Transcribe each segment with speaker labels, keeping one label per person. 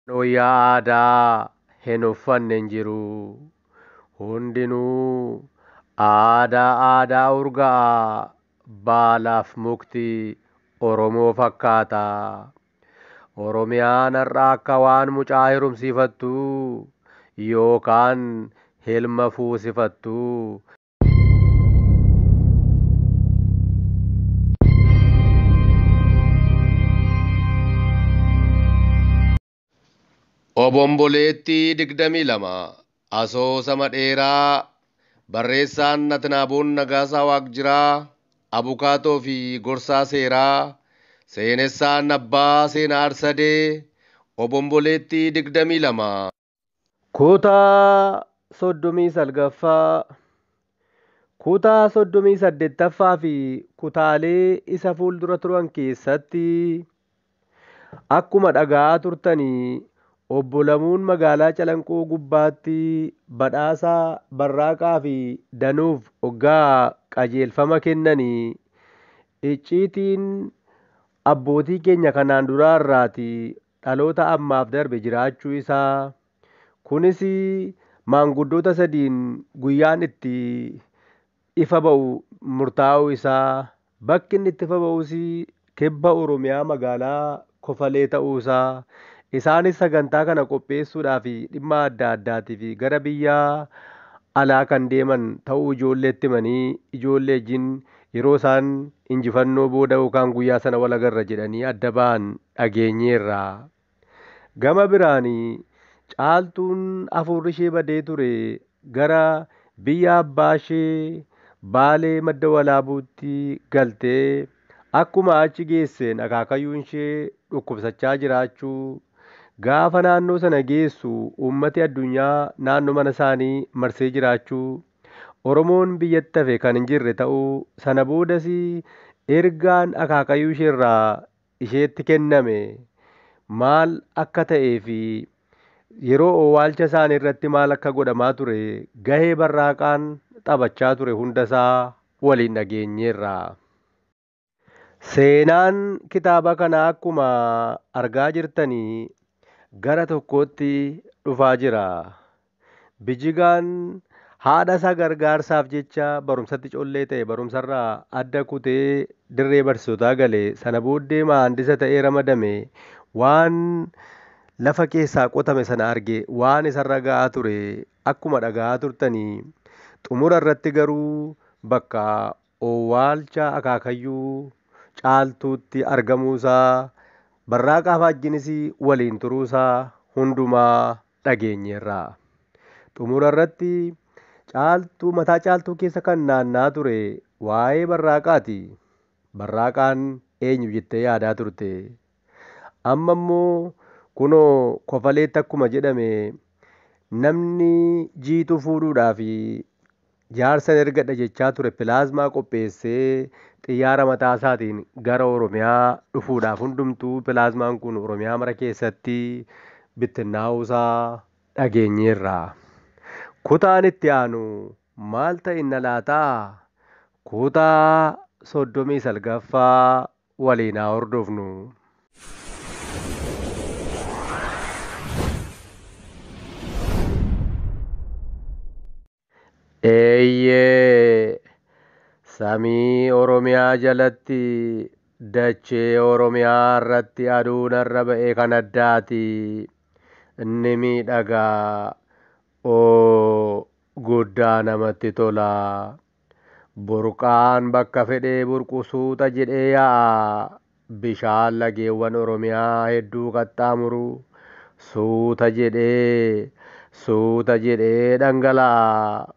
Speaker 1: Wayyaa aadaa hin uffanne hin jiru. Hundinuu aadaa aadaa urga'a baalaaf mukti Oromoo fakkaata. Oromiyaan har'a akka waan mucaa herumsiifattuu yookaan hilma fuusifattuu Obomboleettii 22 Asoosama dheeraa Barreessaan Natnaaboon Nagaasaa Waaqjiraa Abukaatoo fi Gorsaa Seeraa Seenessaan Abbaa Seenaa Arsadee Obomboleettii 22 Kutaa soddomii salgaffaa, kutaa soddomii saddeettaffaa fi kutaalee isa fuuldura turan keessatti akkuma dhaga'aa turtanii obbo Lamuun magaalaa Calanqoo gubbaatti badhaasa Barraaqaa fi Danuuf oggaa qajeelfama kennanii icciitiin abbootii keenya kanaan duraa irraati dhaloota ammaaf darbe jiraachuu isaa, kunis maanguddoota sadiin guyyaan itti ifa ba'u murtaa'uu isaa, bakki inni itti ifa ba'us Kibba Oromiyaa magaalaa Kofalee ta'uu isaa, isaanis sagantaa kana qopheessuudhaaf dhimma adda addaatiif gara biyya alaa kan deeman ta'uu ijoolleetti himanii ijoolleejin yeroo isaan injifannoo booda yookaan guyyaa sana wal agarra jedhanii adda ba'an dhageenyeerra. Gama biraan Caaltuun afuurrishee badee ture gara biyya abbaashee Baalee Madda Walaabuutti galtee akkuma achi geesseen akaakayyuunshee dhukkubsachaa jiraachuu gaafa naannoo sana geessu uummati addunyaa naannoo manasaanii marsee jiraachuu Oromoon biyyatti hafe kan hin jirre ta'uu, sana boodas ergaan akaakayuu isheerraa isheetti kenname maal akka ta'ee fi yeroo owwaalcha isaanii irratti maal akka godhamaa ture gahee barraaqaan taphachaa ture hunda isaa waliin dhageenyeerra. Seenaan kitaaba kanaa akkuma argaa jirtani gara tokkootti dhufaa jira. Bijigaan haadha isaa gargaarsaaf jecha barumsatti collee ta'e barumsarraa adda kutee dirree barsiisotaa gale. Sana booddee maandisa ta'ee ramadame. Waan lafa keessaa qotame sana arge. Waan isarra ga'aa ture akkuma dhaga'aa turtani. Xumura irratti garuu bakka owwaalcha akaakayyuu Caaltuutti argamuusaa, Barraaqaa Faajjinis waliin turuusaa hundumaa dhageenyeerra. Xumurarratti Caaltuu mataa Caaltuu keessa kan naanna'aa ture waa'ee Barraaqaati. Barraaqaan eenyu jettee yaadaa turte? Amma immoo kunoo Kofaleetti akkuma jedhame namni Jiituu fuudhuudhaaf Jaarsan ergadha jechaa ture pilaazmaa qopheessee xiyyaara mataasaatiin gara Oromiyaa dhufuudhaaf hundumtuu pilaazmaan kun Oromiyaa mara keessatti bittinnaa'uusaa dhageenyeerra. Kutaan itti aanu maal ta'inna laata? Kutaa 39ffaa waliin haa hordofnu. Eeyyee! Samii Oromiyaa jalatti, dachee Oromiyaa irratti aduun har'a ba'e kan addaati. Ni miidhaga. Oo! Guddaa namatti tola. Burqaan bakka fedhee burqu suuta jedhee yaa'a. Bishaan lageewwan Oromiyaa hedduu qaxxaamuru suuta jedhee, suuta jedhee dhangala'a.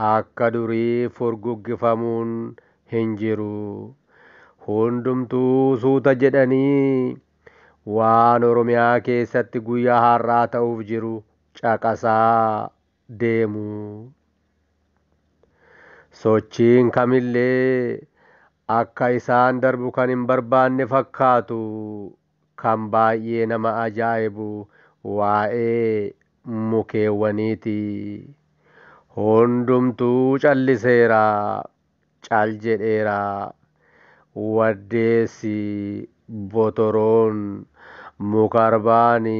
Speaker 1: Akka durii furguggifamuun hin jiru. Hundumtuu suuta jedhanii waan Oromiyaa keessatti guyyaa har'aa ta'uuf jiru caqasaa, deemu. Sochiin kamillee akka isaan darbu kan hin barbaanne fakkaatu. Kan baay'ee nama ajaa'ibu waa'ee mukeewwaniiti. Hundumtuu calliseera. Cal jedheera. Waddeessi, botoroon, mukarbaani,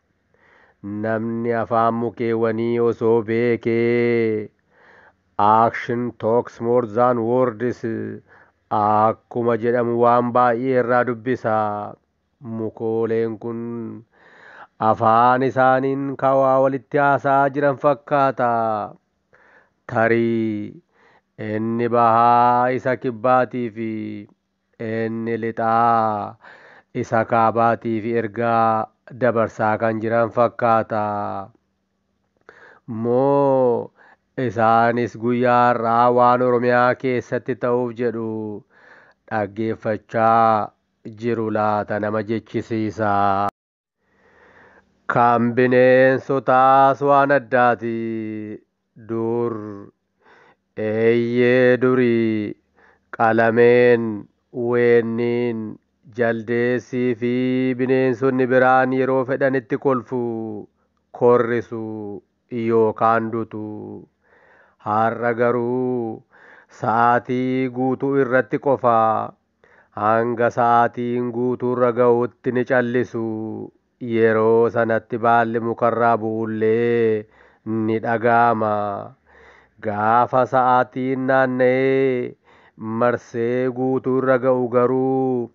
Speaker 1: Namni afaan mukeewwanii osoo beekee Action talks more than words akkuma jedhamu waan baay'ee irraa dubbisa. Mukooleen kun afaan isaaniin ka waa walitti haasa'aa jiran fakkaata. Tarii inni bahaa isa kibbaatii fi Inni lixaa isa kaabaatiif ergaa dabarsaa kan jiran fakkaata. Moo isaanis guyyaa har'aa waan Oromiyaa keessatti ta'uuf jedhu dhaggeeffachaa jiru laata nama jechisiisa. Kan bineensotaas waan addaati. Dur, eeyyee durii, qalameen, weenniin, jaldeessii fi bineensonni biraan yeroo fedhanitti kolfu, korrisu yookaan dutu. Har'a garuu sa'aatii guutuu irratti qofa Hanga sa'aatiin guutuurra ga'utti ni callisu. Yeroo sanatti baalli mukarraa bu'ullee ni dhaga'ama. Gaafa sa'aatiin naanna'ee marsee guutuu irra ga'u garuu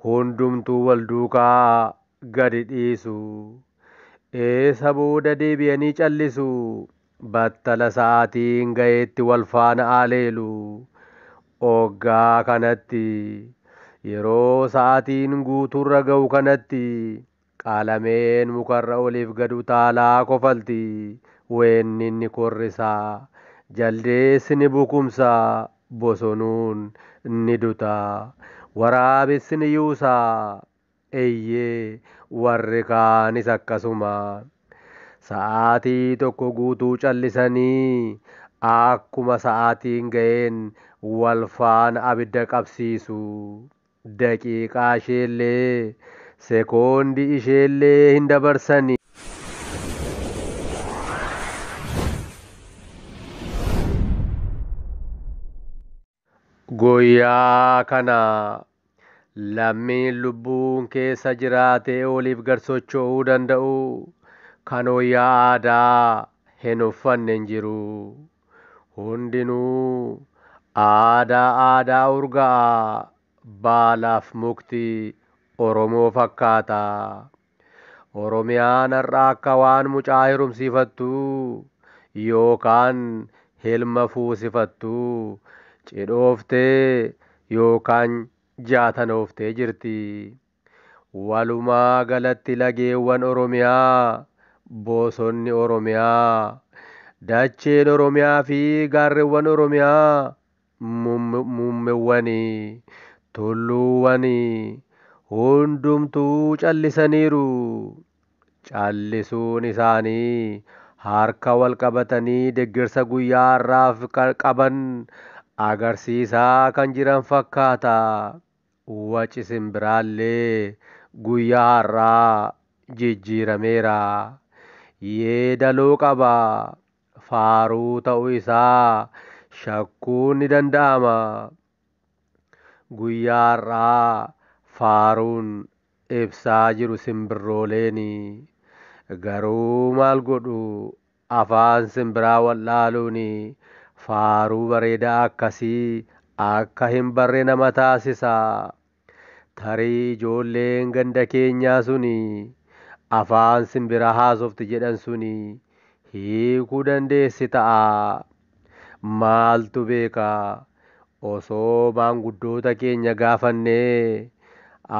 Speaker 1: hundumtuu wal duukaa gadi dhiisu. Eessa booda deebi'anii callisu? battala sa'aatiin ga'eetti wal faana aleelu. Oggaa kanatti, yeroo sa'aatiin guutuurra ga'u kanatti, qaalameen mukarra oliif gad utaalaa kofalti, weenni ni korrisa, jaldeessi ni bukumsa, bosonuun ni duta, waraabessi ni yuusa, Eeyyee, warri kaanis akkasuma. Sa'aatii tokko guutuu callisanii akkuma sa'aatiin ga'een wal faana abidda qabsiisu. Daqiiqaa isheellee, sekoondii isheellee hin dabarsan. Guyyaa kana lammiin lubbuun keessa jiraatee oliif gad socho'uu danda'u kan wayyaa aadaa hin uffanne hin jiru. Hundinuu aadaa aadaa urga'aa baalaaf mukti Oromoo fakkaata. Oromiyaan har'a akka waan mucaa hirumsiifattuu yookaan hilma fuusifattuu cidhooftee yookaan jaatanooftee jirti. Walumaa galatti lageewwan Oromiyaa, bosonni Oromiyaa, dacheen Oromiyaa fi gaarrewwan Oromiyaa muummewwanii, tulluuwwanii hundumtuu callisaniiru. Callisuun isaanii harka wal qabatanii deggersa guyyaa har'aaf qaban agarsiisaa kan jiran fakkaata. Waci simbiraallee guyyaa har'aa jijjiirameera. Yeedaloo qaba. faaruu ta'uu isaa shakkuun ni danda'ama. Guyyaa har'aa faaruun ibsaa jiru simbirrooleeni. Garuu maal godhu afaan simbiraa wal'aaluun faaruu bareedaa akkasii akka hin barre nama taasisa. Tarii ijoolleen ganda keenyaa suni afaan simbira haasofti jedhan suni hiikuu dandeessi ta'a. Maaltu beeka, osoo maanguddoota keenya gaafannee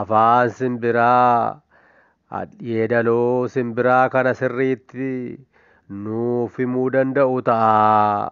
Speaker 1: afaan simbiraa hadhyeedaloo simbiraa kana sirriitti nuuf himuu danda'u ta'a.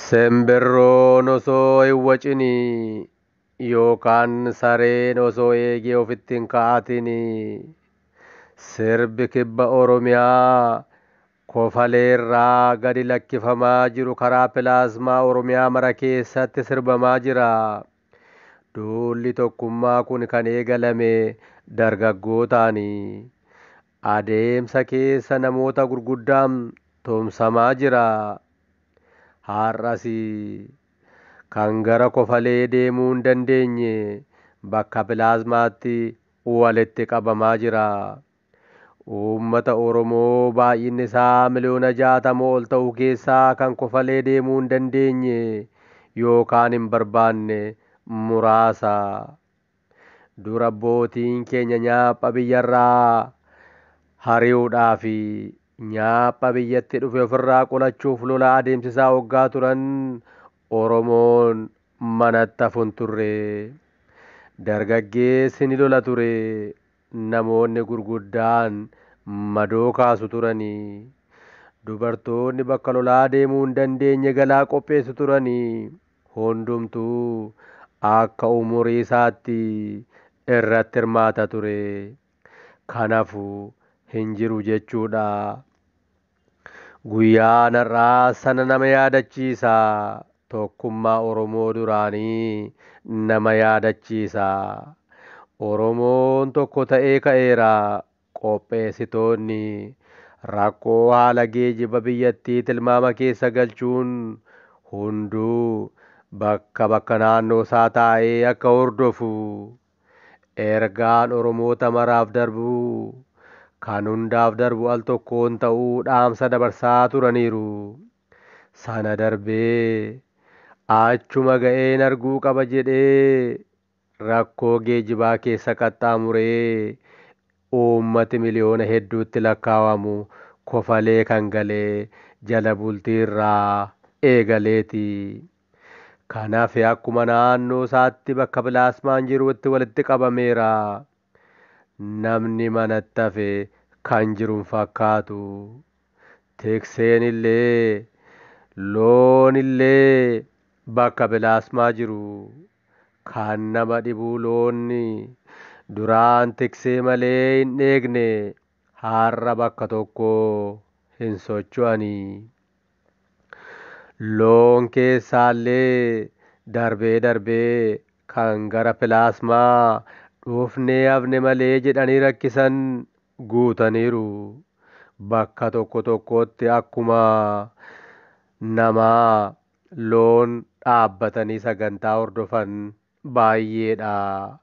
Speaker 1: Simbirroon osoo hin wacini yookaan sareen osoo eegee ofitti hin ka'atini. Sirbi Kibba Oromiyaa Kofaleerraa gadi lakkifamaa jiru karaa pilaasmaa Oromiyaa mara keessatti sirbamaa jira. Duulli tokkummaa kun kan eegalame dargaggootaani. Adeemsa keessa namoota gurguddaa tumsamaa jira. Har'as kan gara kofalee deemuu hin dandeenye bakka pilaazmaatti walitti qabamaa jira. Uummata Oromoo baay'inni isaa miliyoona 60 ol ta'u keessaa kan kofalee deemuu hin dandeenye yookaan hin barbaanne muraasa. Dur abbootiin keenya nyaapha biyyarraa hari'uudhaafi nyaapha biyyatti dhufe ofirraa qolachuuf lola adeemsisaa oggaa turan Oromoon manatti hafu hin turre. Dargaggeessi ni lola ture, namoonni gurguddaan madoo kaasu turani. Dubartoonni bakka lolaa deemuu hin dandeenye galaa qopheessu turani. hundumtuu akka umurii isaatti irratti hirmaata ture. Kan hafu hin jiru jechuudha. Guyyaan har'aa sana nama yaadachiisa. Tokkummaa Oromoo duraanii nama yaadachiisa. Oromoon tokko ta'ee ka'eera. Qopheessitoonni rakkoo haala geejiba biyyattii tilmaama keessa galchuun hunduu bakka bakka naannoo isaa taa'ee akka hordofu ergaan Oromoota maraaf darbu kan hundaaf darbu al tokkoon ta'uu dhaamsa dabarsaa turaniiru. Sana darbee achuma ga'een arguu qaba jedhee rakkoo geejibaa keessa qaxxaamuree uummati miliyoona hedduutti lakkaawamu kofalee kan gale jala bultii irraa eegaleeti. Kan hafe akkuma naannoosaatti bakka pilaasmaan jiruutti walitti qabameera. Namni manatti hafe kan jiru hin fakkaatu. Tikseenillee, loonillee bakka bilaasmaa jiru. Kan nama dhibu loonni duraan tiksee malee hin dheegne har'a bakka tokkoo hin socho'ani. Loon keessaallee darbee darbee kan gara pilaasmaa dhufnee hafne malee jedhanii rakkisan guutaniiru. Bakka tokko tokkotti akkuma namaa loon dhaabbatanii sagantaa hordofan baay'ee dha.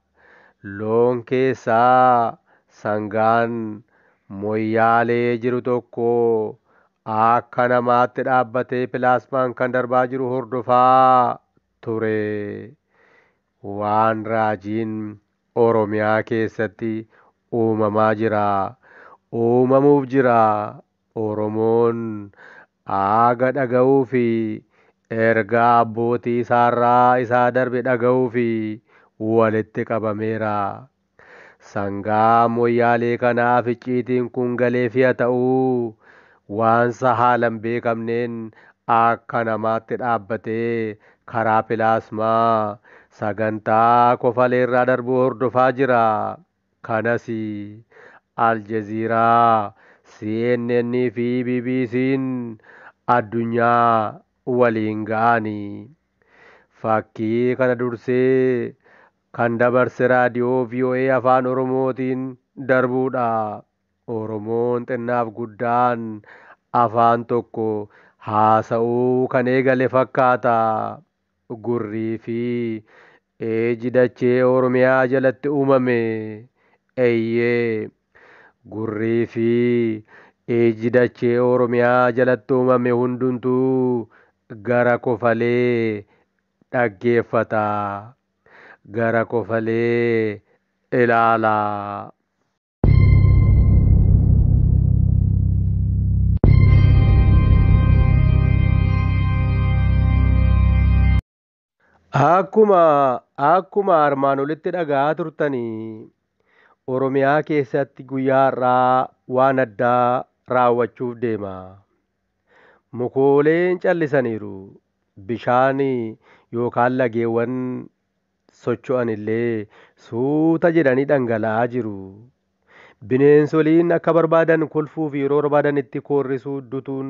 Speaker 1: Loon keessaa sangaan Moyyaalee jiru tokko akka namaatti dhaabbatee pilaasmaan kan darbaa jiru hordofaa ture. Waan raajiin Oromiyaa keessatti uumamaa jira, uumamuuf jira, Oromoon Aaga dhaga'uu fi ergaa abbootii isaarraa isaa darbe dhaga'uuf walitti qabameera. Sangaa Moyyaalee kanaaf icciitiin kun galeef ya ta'u, waansa haalan beekamneen akka namaatti dhaabbatee karaa pilaasmaa sagantaa kofaleerraa darbu hordofaa jira. Kanas Al Jazeera, CNN fi BBCn addunyaa waliin ga'ani. Fakkii kana dursee kan dabarse Raadiyoo voa Afaan Oromootiin darbuudha. Oromoon xinnaaf guddaan afaan tokko haasa'uu kan eegale fakkaata. Gurrii fi Eeji dachee Oromiyaa jalatti uumame. Eyyee. Gurrii fi ijji dachee Oromiyaa jalatti uumame hundumtuu gara kofalee dhaggeeffata. Gara kofalee ilaala. Akkuma akkuma armaan olitti dhaga'aa turtani Oromiyaa keessatti guyyaa har'aa waan addaa raawwachuuf deema. Mukooleen callisaniiru. Bishaan yookaan lageewwan socho'an illee suuta jedhanii dhangala'aa jiru. Bineensoliin akka barbaadan kolfuu fi yeroo barbaadan itti koorrisuu dutuun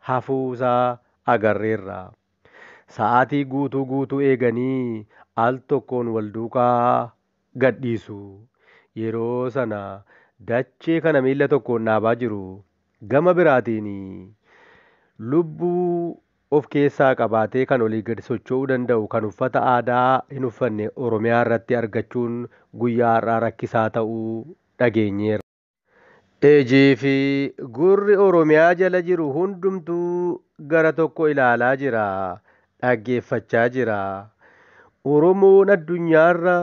Speaker 1: hafuu isaa agarreerra. Sa'aatii guutuu guutuu eeganii al tokkoon wal duukaa gad dhiisu. Yeroo sana dachee kana miilla tokkoon dhaabaa jiru. Gama biraatiin lubbuu of keessaa qabaatee kan olii gad socho'uu danda'u kan uffata aadaa hin uffanne Oromiyaa irratti argachuun guyyaa har'aa rakkisaa ta'uu dhageenyeerra. Ijii fi gurri Oromiyaa jala jiru hundumtuu gara tokko ilaalaa jira, dhaggeeffachaa jira. Oromoon addunyaarra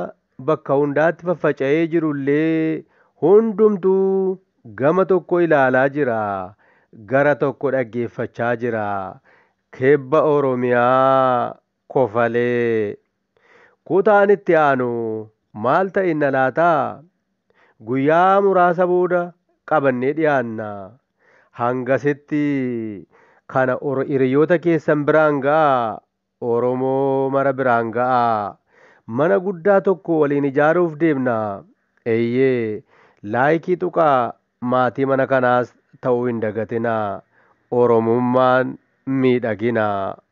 Speaker 1: bakka hundaatti faffaca'ee jirullee hundumtuu gama tokko ilaalaa jira, gara tokko dhaggeeffachaa jira. Kibba Oromiyaa kofalee. Kutaan itti aanu maal ta'inna laata? Guyyaa muraasa booda qabannee dhiyaanna. Hangasitti kana hiriyoota keessan biraan ga'aa, Oromoo mara biraan ga'aa. Mana guddaa tokko waliin ijaaruuf deemna. Eeyyee, Like tuqaa maatii mana kanaas ta'uu hin dagatinaa. Oromummaan miidhagina.